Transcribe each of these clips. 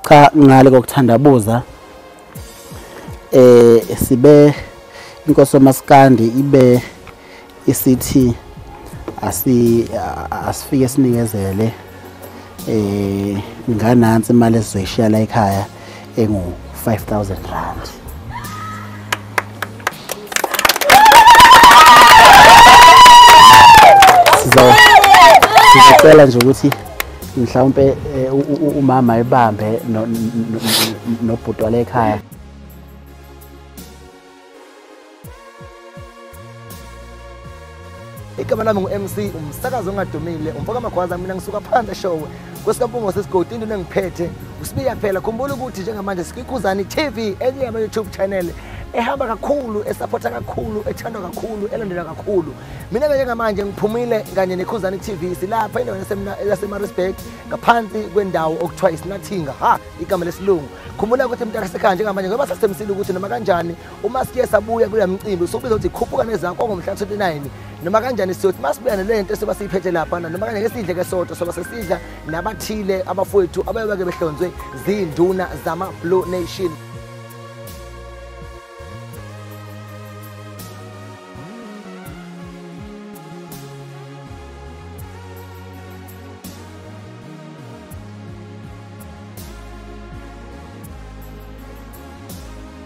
cha ngale kokuthandabuza eh sibe inkosi omaskandi ibe isithi asi asifike sinikezele eh nganansi imali esizoyishiya la ekhaya engu 5000 rand sizocela nje ukuthi mhlawumpe eh, umama ebambe nobhuti wale ekhaya igama lami ngu-mc umsakazi ongadumile umfoka magwaza mina ngisuka phandle showe kwesikampungwa sesigodi into engiphethe usibiya phela khumbula ukuthi njengamanje sikwikhuzani tv enye yama-youtube channel ehamba kakhulu esaphotha kakhulu ethandwa kakhulu elandelwa kakhulu mina-ke njengamanje ngiphumile kanye nekhuzani tv silapha endaweni yasemarisburg ngaphansi kwendawo okuthiwa isinathinga ha igama lesilungu khumbula ukuthi mntakasekhaya njengamanje ngoba sasemsile ukuthi noma kanjani uma siye sabuya kule mcimbi sokubiza ukuthi khuphuka nezakho ongomhla 29 noma kanjani siyothi masibuya nale nto soba siyiphethe lapha noma kanjani esidle ke sodwa soba sesidla nabathile abafowethu abayobeke behlonzwe zinduna zama blue nation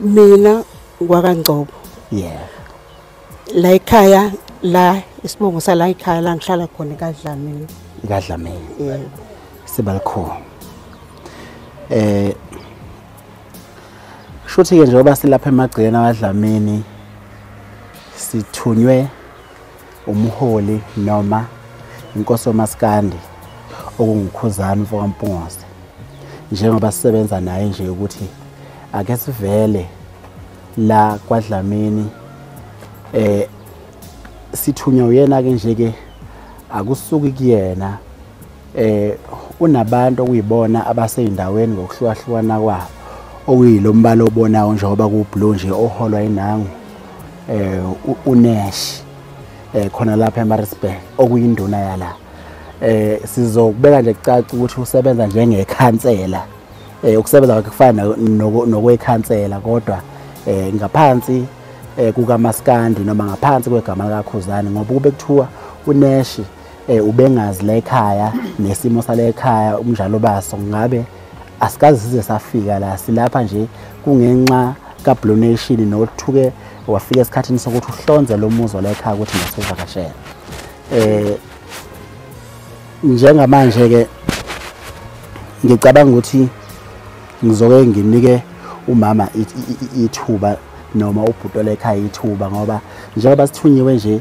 mina ngwakangcobo yeah la ekhaya la isibongo sala ekhaya la ngihlala khona kadlamini kadlamini yeah sibalikhona eh shuthi ke njengoba silapha emagcikeni awadlamini sithunywe umholi noma inkosi yomaskandi okungukhuzana umfokampungose njengoba sisebenza naye nje ukuthi ake sivele la kwadlamini eh sithunywa uyena ke nje ke akusuki kuyena eh unabantu okuyibona abaseyindaweni ngokuhlukahlukana kwabo okuyilombala obonayo njengoba kublue nje oholwa inangu eh uNash eh khona lapha eMaritzburg okuyinduna yala eh sizokubeka nje kucaca ukuthi usebenza njengekhansela eh ukusebenza kwakhe kufana nokwekhansela kodwa eh ngaphansi eh, kukamaskandi noma ngaphansi kwegama likakhuzane ngoba kube kuthiwa uneshi eh ubengazi la ekhaya nesimo sala ekhaya umnjalo baso ngabe asikazi size safika la silapha nje kungenxa kaBlue Nation nothuke wafika esikhathini sokuthi uhlonze lo muzi la ekhaya ukuthi ngasivakashela eh njengamanje ke ngicabanga ukuthi ngizoke nginike umama ithuba noma ubhutola ekhaya ithuba ngoba njengoba sithunyiwe nje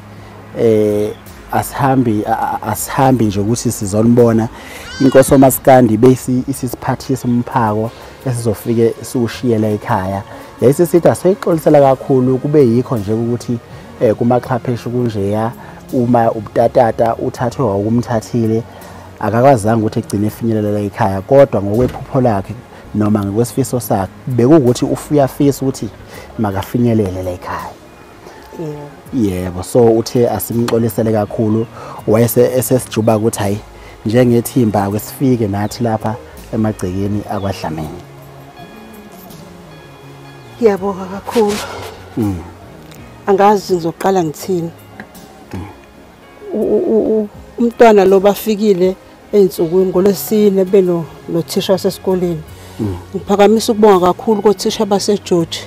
eh asihambi asihambi nje ukuthi sizonibona inkosi omasikandi bese isisiphathisa umphako esizofike siwushiyela ekhaya yayise sithi asiyixolisela kakhulu kube yikho nje ukuthi eh kumaxhapheshe kunjeya uma ubutatata uthathwe wakumthathile akakwazanga ukuthi egcine efinyelela ekhaya kodwa ngokwephupho lakhe noma ngokwesifiso sakhe bekuwukuthi ufuyafisa ukuthi makafinyelele la ekhaya yebo so uthe asimxolisele kakhulu wayese esesijuba ukuthi hayi njengethimba ake sifike nathi lapha emagcekeni akwadlamini ngiyabonga kakhulu mm. angazi ngizoqala ngithini umntwana lo bafikile ezinsukwini ngolwesine beno nothisha wasesikoleni mm. ngiphakamisa ukubonga kakhulu kothisha baseGeorge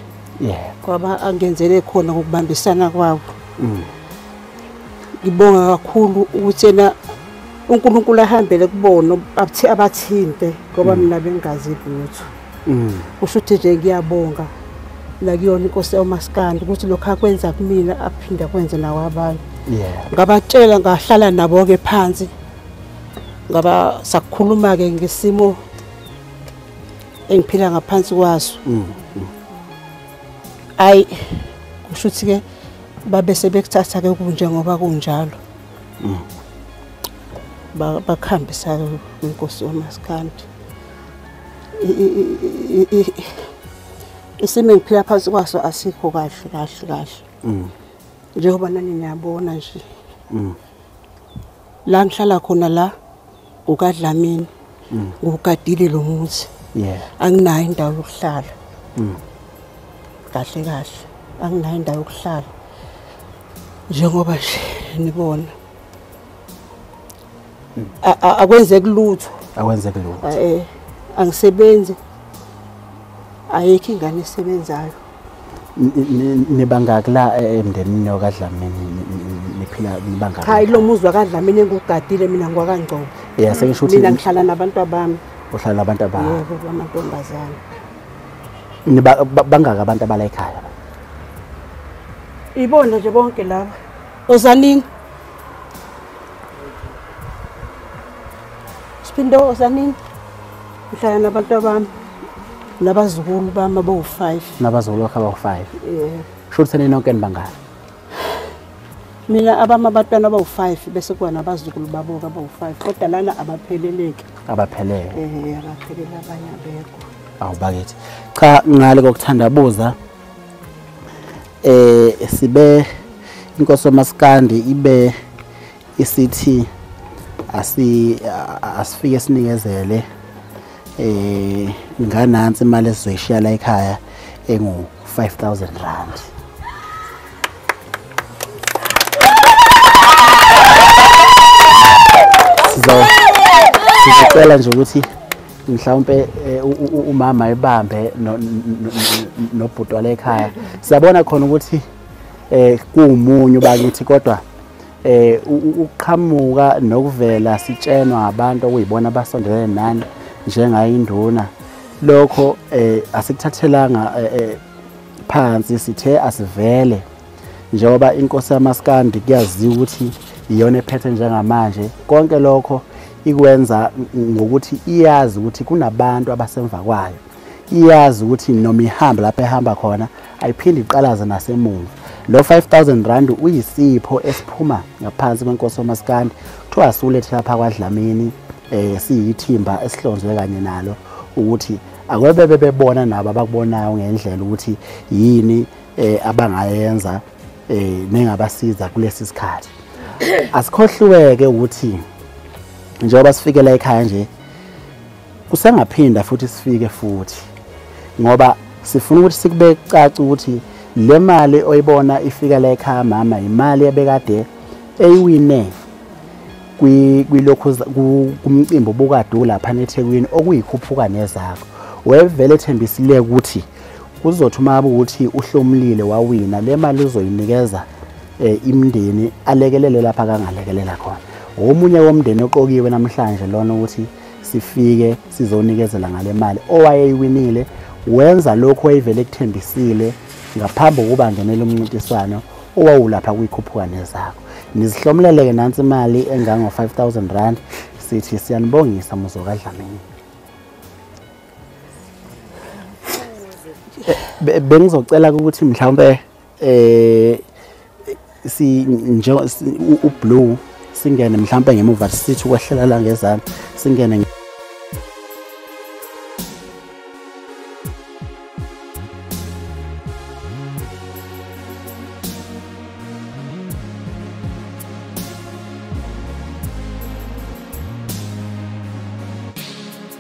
kwaba angenzele khona ngokubambisana kwabo mm. ngibonga kakhulu ukuthi yena uNkulunkulu ahambele kubona abathinte ngoba mm. mina bengazi lutho mm. usho ukuthi nje ngiyabonga la kuyona inkosi yomaskandi ukuthi lokho akwenza kumina aphinde akwenze nawo abanye ngabatshela ngahlala nabo-ke phansi ngaba sakukhuluma-ke ngesimo engiphila ngaphansi kwaso mm, mm. ayi kusho ukuthi-ke babe sebekuthatha-ke kunjengoba kunjalo mm. bakuhambisa-ke inkosi yomaskandi isimo engiphila phansi kwaso asikho kahle kahle kahle mm. njengoba nani niyabona nje mm. la ngihlala khona la ukadlamini mm. ngugadile lo muzi anginayo indawo yokuhlala kahle kahle anginayo indawo yokuhlala njengoba nje nibona akwenzeki lutho akwenzeki lutho eh angisebenzi ayikho ingane esebenzayo nibangaki la eh, emndenini wakadlamini niphila nibangaki hayi lo muzi wakadlamini engugadile mina ngiwakangcobo yeah sengisho ukuthi mina ngihlala nabantu abami uhlala nabantu abami yebo bamantombazana niba bangaka abantu abala ekhaya ibona nje bonke laba Ozanin. Siphinde ozanin. Ngihlala nabantu abami. Nabazukulu bami abawu-5. Nabazukulu bakhe abawu-5. Yeah. Sho ukuthi nini nonke nibangani? Mina abami abatwana abawu-5 bese kuba nabazukulu babo-ke abawu-5 kodwa lana abapheleleki. Abaphelele. Eh, abaphelele abanye abekho. Awubakithi. Cha ngale kokuthandabuza eh sibe inkosi omaskandi ibe isithi asi asifike sinikezele eh nganansi imali esizoyishiya la ekhaya engu 5000 rand sizocela nje ukuthi mhlawumpe eh, umama ebambe nobhuti wale ekhaya siyabona khona ukuthi eh kuumunye bakithi kodwa eh ukuqhamuka nokuvela sitshenwa abantu okuyibona abasondelene nani njengayo induna lokho eh asikuthathelanga eh, eh, phansi sithe asivele njengoba inkosi yamaskandi kuyaziwa ukuthi iyona ephethe njengamanje konke lokho ikwenza ngokuthi iyazi ukuthi kunabantu abasemva kwayo iyazi ukuthi noma ihamba lapho ehamba khona ayiphinde iqalaze nasemuva lo 5000 rand uyisipho esiphuma ngaphansi kwenkosi omaskandi kuthiwa siwulethe lapha kwadlamini eh siyithimba esihlonzwe kanye nalo ukuthi akwebe bebebona nabo abakubonayo ngendlela ukuthi yini eh abangayenza eh nengabasiza kulesi sikhathi asikhohliweke ukuthi njengoba sifikela ekhaya nje kusengaphinda futhi sifike futhi ngoba sifuna ukuthi sikube caca ukuthi le mali oyibona ifika la ekhaya mama imali ebekade eyiwine kwilokhu kumcimbi obukade ulapha nethekwini okuyikhuphuka nezakho wevele ethembisile ukuthi kuzothi uma ukuthi uhlomulile wawina le mali uzoyinikeza eh, imndeni alekelele lapha kangalekelela khona omunye womndeni oqokiwe namhlanje lona ukuthi sifike sizonikezela ngale mali owayeyiwinile wenza lokho wayevele kuthembisile ngaphambi kokuba ngenele umncintiswano owawulapha kuyikhuphukane zakho nizihlomulele-ke nansi imali engango-5000 rand sithi siyanibongisa muzokadlamini bengizocela ukuthi mhlawumbe eh si nje ublue singene mhlawumbe ngemuva sithi ukwehlela la ngezansi singene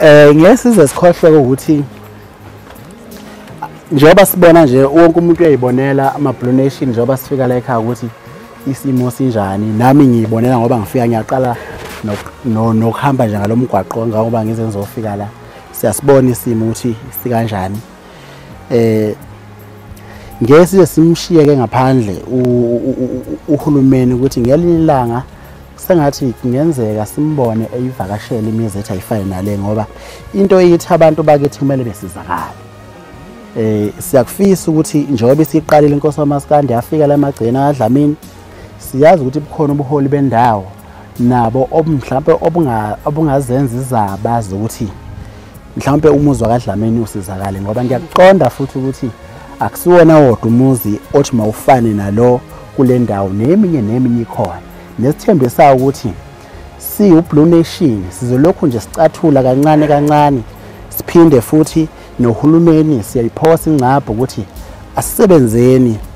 Eh ngeke size sikhohlwe ukuthi njengoba sibona nje wonke umuntu uyayibonela ama blue nation njengoba sifika la ekhaya ukuthi isimo sinjani nami ngiyibonela ngoba ngifika ngiyaqala nokuhamba nje ngalomgwaqo ngoba ngize ngizofika la Siyasibona isimo ukuthi sikanjani. Eh ngeke size simshiyeke ngaphandle uhulumeni ukuthi ngelinye ilanga sengathi kungenzeka simbone eyivakashela imizi ethi ayifane nale ngoba into eyithi abantu bakithi kumele besizakale eh siyakufisa ukuthi njengoba isiqalile inkosi wamaskandi yafika la magcina adlamini siyazi ukuthi bukhona ubuholi bendawo nabo mhlawumpe obungazenza izaba zokuthi mhlawumpe umuzi wakadlameni usizakale ngoba ngiyakuqonda futhi ukuthi akusiwona wodwa umuzi othi mawufane nalo kule ndawo neminye neminye ikhona nesithembe sawo ukuthi siwublue nation sizolokhu nje sicathula kancane kancane siphinde futhi nohulumeni siyayiphosa ingcabho ukuthi asisebenzeni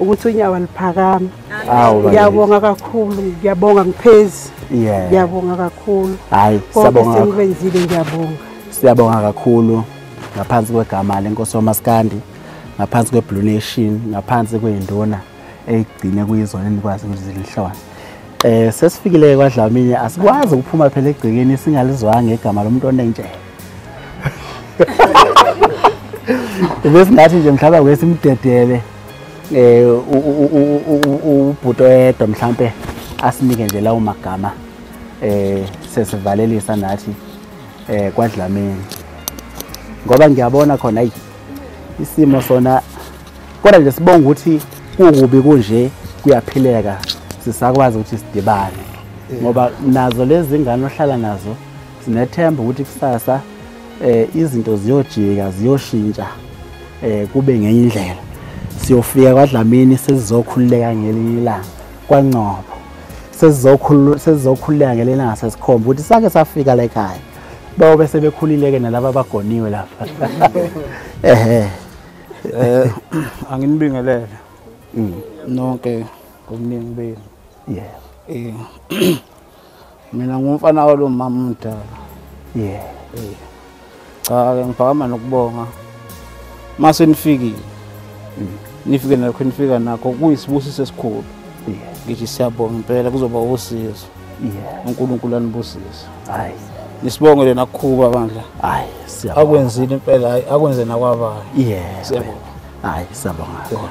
ukuthi unyawo aliphakami ngiyabonga kakhulu ngiyabonga ngiphezi ngiyabonga kakhulu hayi siyabonga sengikwenzile ngiyabonga siyabonga kakhulu ngaphansi kwegama lenkosi yomaskandi ngaphansi kweblue nation ngaphansi kweyinduna eyigcine kuyizona enikwazi ukuthi zilihlone um sesifikile kwadlamini asikwazi ukuphuma phela egcekeni singalizwanga igama lomuntu onenjela besingathi nje mhlawumbe akuke simdedele um ubhuti oyedwa mhlawumpe asinike nje lawo magama um sesivalelisa nathi um kwadlameni ngoba ngiyabona khona ayi isimo sona kodwa nje sibonga ukuthi kukubi kunje kuyaphileka sisakwazi ukuthi sidibane ngoba nazo lezi ngane ohlala nazo Sinethemba ukuthi kusasa eh izinto ziyojika ziyoshintsha eh kube ngenye indlela. Siyofika kwaDlamini sesizokhululeka ngelinye ilanga kwaNcobo. Sesizokhulula sesizokhululeka ngelinye ilanga sesikhomba ukuthi sake safika la ekhaya. Bawo bese bekhulile ke nalabo abagoniwe lapha. Ehhe. Eh anginibingelele. Mm. Nonke ngomningi benu. Yeah. Eh mina ngumfana walo mama umdala yeah cha ke ngiphakama nokubonga mase nifikile mm. nifike nakho nifika nakho kuyisibusiso esikhulu ngithi siyabonga impela kuzoba usizo uNkulunkulu anibusise hayi nisibongele nakukhuba bandla hayi siyabonga akwenzile impela hayi akwenze nakwabayo yeah siyabonga hayi siyabonga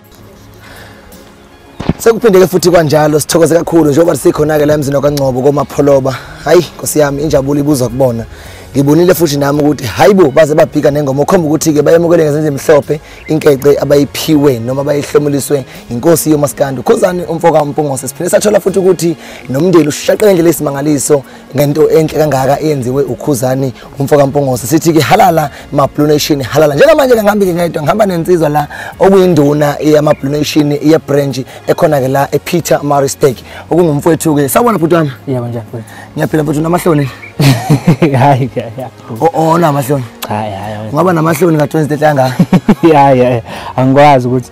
sekuphindeke futhi kwanjalo sithokoze kakhulu njengoba sikhona-ke la emzini wakangcobo komapholoba hhayi nkosi yami injabulo ibuzwa kubona ngibonile futhi nami ukuthi hayi bo baze babhika nengoma okhomba ukuthi-ke bayemukele ngezenza emhlophe inkece abayiphiwe noma bayihlomuliswe yinkosi yomasikandi ukhozani umfoka umpungose siphinde sathola futhi ukuthi nomndeni ushaqe ngendlela esimangaliso ngento enhle kangaka eyenziwe ukhuzani umfoka Mpungose sithi ke halala ma Blue Nation halala njengamanje ke ngihambile ngedwa ngihamba nensizwa la okuyinduna yama Blue Nation ye branch ekhona ke la e Peter Maristek okungumfowethu ke sawona bhuti wami yebo njani bhuti ngiyaphila bhuti namahloni hayi ke ya ona amahloni cha ya ya ngaba namahloni ka 20 hlanga ya ya angikwazi ukuthi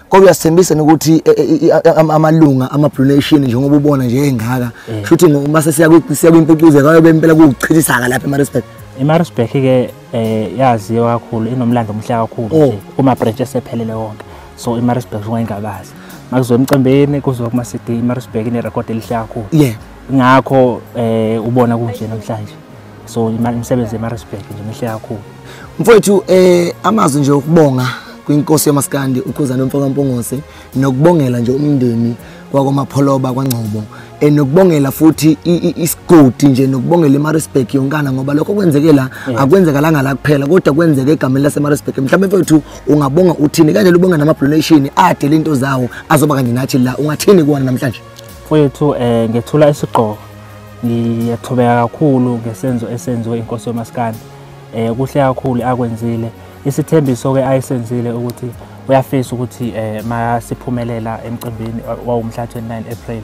kodwa uyasithembisa nokuthi eh, eh, eh, amalunga ama-blue nation njengoba ubona nje engaka mm. shuthi uma sesiya kwimpucuzeko ayobe impela kuwuchithisaka lapha emarisburg imarisburg-ke um yaziwa kakhulu inomlando omuhle kakhulu nje oh. kuma-branch esephelele wonke so imarisburg ungayingabazi makuzoya emcimbini kuzoya kuma-cd imarisburg inerekhodi elihle kakhulu ngakho um ubona kunje namhlanje so imisebenzi yemarisburg nje mihle kakhulu mfowethu eh amazwi nje okubonga kwinkosi yamaskandi ukhuzana mfokampongose nokubongela nje umndeni kwakwamapholoba kwangcobo eh, nokubongela futhi isigodi nje nokubongela imarisburg yonkana ngoba lokho kwenzeke la akwenzekalanga la kuphela kodwa kwenzeke egameni lasemarisburg mhlawumbe mfethu ungabonga uthini kanje lubonga nama-donation adele into zawo azoba kanje nathi la ungathini kuwona namhlanje Mfowethu um eh, ngethula isigqoko ngiyathobeka kakhulu ngesenzo esenziwe inkosi yomasikandi um kuhle kakhulu akwenzile isithembiso-ke ayisenzile ukuthi uyafisa ukuthi um eh, masiphumelela emcimbini wawumhla 29 april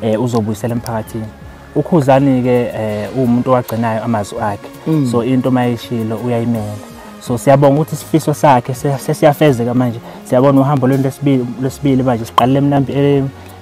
um uzobuyisela emphakathini ukhuzani-ke um uwumuntu owagcinayo amazwi akhe mm. so into uma yishilo uyayimela so siyabonga ukuthi isifiso sakhe sesiyafezeka manje siyabona uhambo lwento lesibili manje siqalele emnambi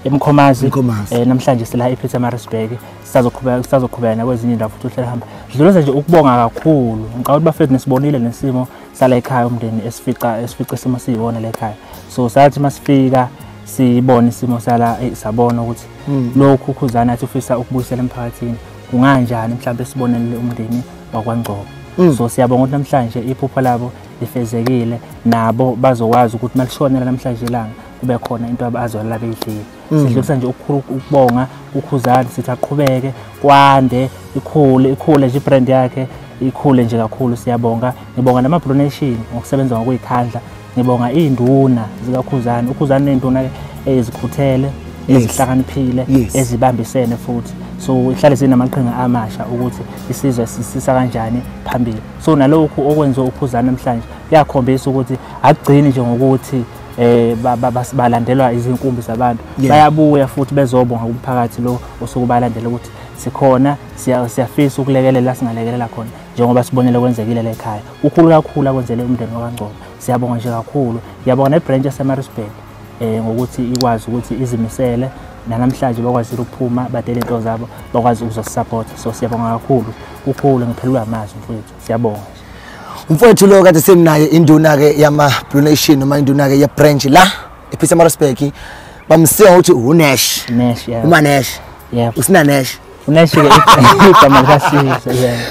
emkhomazi eh, namhlanje sila epietermarisburg sisazoqhubeka nakwezinye indawo futhi uhlele hamba sidluleza nje ukubonga kakhulu ngicabanga ukuthi bafethu nisibonile nesimo sala ekhaya umndeni esifica esifica isimo siyiwona la ekhaya so sathi uma sifika sibone isimo sala eh, sabona ukuthi hmm. lokhu ukhuzana athi ufisa ukubuyisela emphakathini kunganjani mhlawumbe sibonelele umndeni wakwangcobo hmm. so siyabonga ukuthi namhlanje iphupho labo lifezekile nabo bazokwazi ukuthi malishonela namhlanje ilanga kube khona into abazwalela beyidlile mm. sidlulisa nje ukubonga ukhuzani sithi aqhubeke kwande ikhule ikhule nje ibrand yakhe ikhule nje kakhulu siyabonga ngibonga namablue nation ngokusebenza ngokuyikhandla ngibonga iy'nduna zikakhuzani ukhuzani ney'nduna ezikhuthele ezihlakaniphile ezibambisene futhi so ihlale sinamaqhinga amasha ukuthi isizwe sisisa kanjani phambili so nalokhu okwenziwa ukhuzani namhlanje kuyakhombisa ukuthi akugcini nje ngokuthi eh balandelwa izinkumbi zabantu bayabuya futhi bezobonga kumphakathi lo osuke balandela ukuthi sikhona siyafisa ukulekelela singalekelela khona njengoba sibonele kwenzekile lekhaya ukhulu kakhulu akwenzele umndeni wakangcobo siyabonga nje kakhulu ngiyabonga nebranch yasemarisburg um eh, ngokuthi ikwazi ukuthi izimisele nanamhlanje bakwazile ukuphuma badele into zabo bakwazi ukuzosisapotha so siyabonga kakhulu ukhulu ngiphelelwa amazwi mfowethu siyabonga umfowethu lo kade seminaye induna-ke yama-blue nation noma induna-ke ye-branch la ephisa amarosbek bamsiwa ngokuthi unash umanesh usinanesh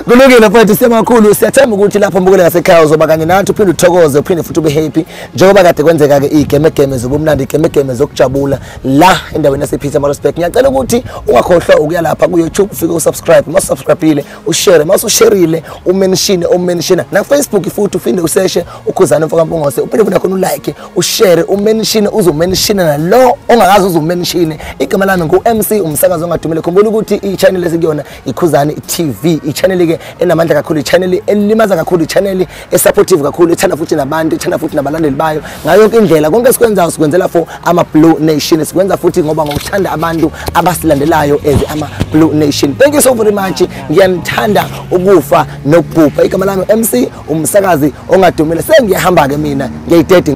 kulungile mfowethu semakhulu siyathemba ukuthi lapho mbukele ngasekhaya uzoba kanye nathi uphinde uthokoze uphinde futhi ube happy njengoba kade kwenzeka-ke iy'gemegeme zobumnandi iy'gemegeme zokujabula la endaweni yasephisa amarosbek ngiyacela ukuthi ungakhohlwa ukuya lapha kuyoutube ufike usubscribe uma usubscribile ushare mase usherile umenshine omenshina nafacebook futhi uphinde useshe ukhuzane mfoka mpungose uphinde futhi nakhona ulike ushare umenshine uzomenshina nalo ongakazi uzomenshine igama lami ngu-mc umsakazi ongadumile khumbula ukuthi i-channel esikuyona ikhuzane tv i-channel-ke enamandla kakhulu i-channel elimaza kakhulu i-channel esupportive kakhulu ethanda futhi nabantu ethanda futhi nabalandeli bayo ngayo yonke indlela konke esikwenzayo sikwenzela for ama-blue nation sikwenza futhi ngoba ngokuthanda abantu abasilandelayo as ama-blue nation thank you so very much ngiyanithanda ukufa nokubhubha igama lami mc umsakazi ongadumile sengiyahamba-ke mina ngiyayidedi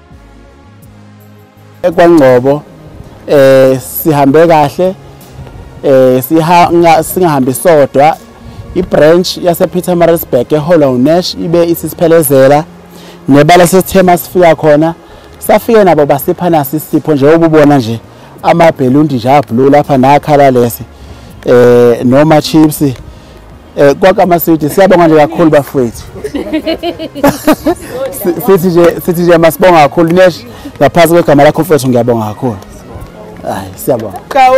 ekwangcobo eh sihambe kahle eh sihanga singahambi sodwa ibranch yase Peter Marisburg eHollow Nash ibe isisiphelezela nebala sesithema sifika khona safike nabo basipha nasi isipho nje ububona nje amabhelundi nje ablue lapha nakhala lesi eh noma chips Eh kwakama city siyabonga nje kakhulu bafowethu. Sithi nje sithi nje masibonga kakhulu nesh ngaphansi kwegama lakho mfowethu ngiyabonga kakhulu. Hayi siyabonga. Kawo.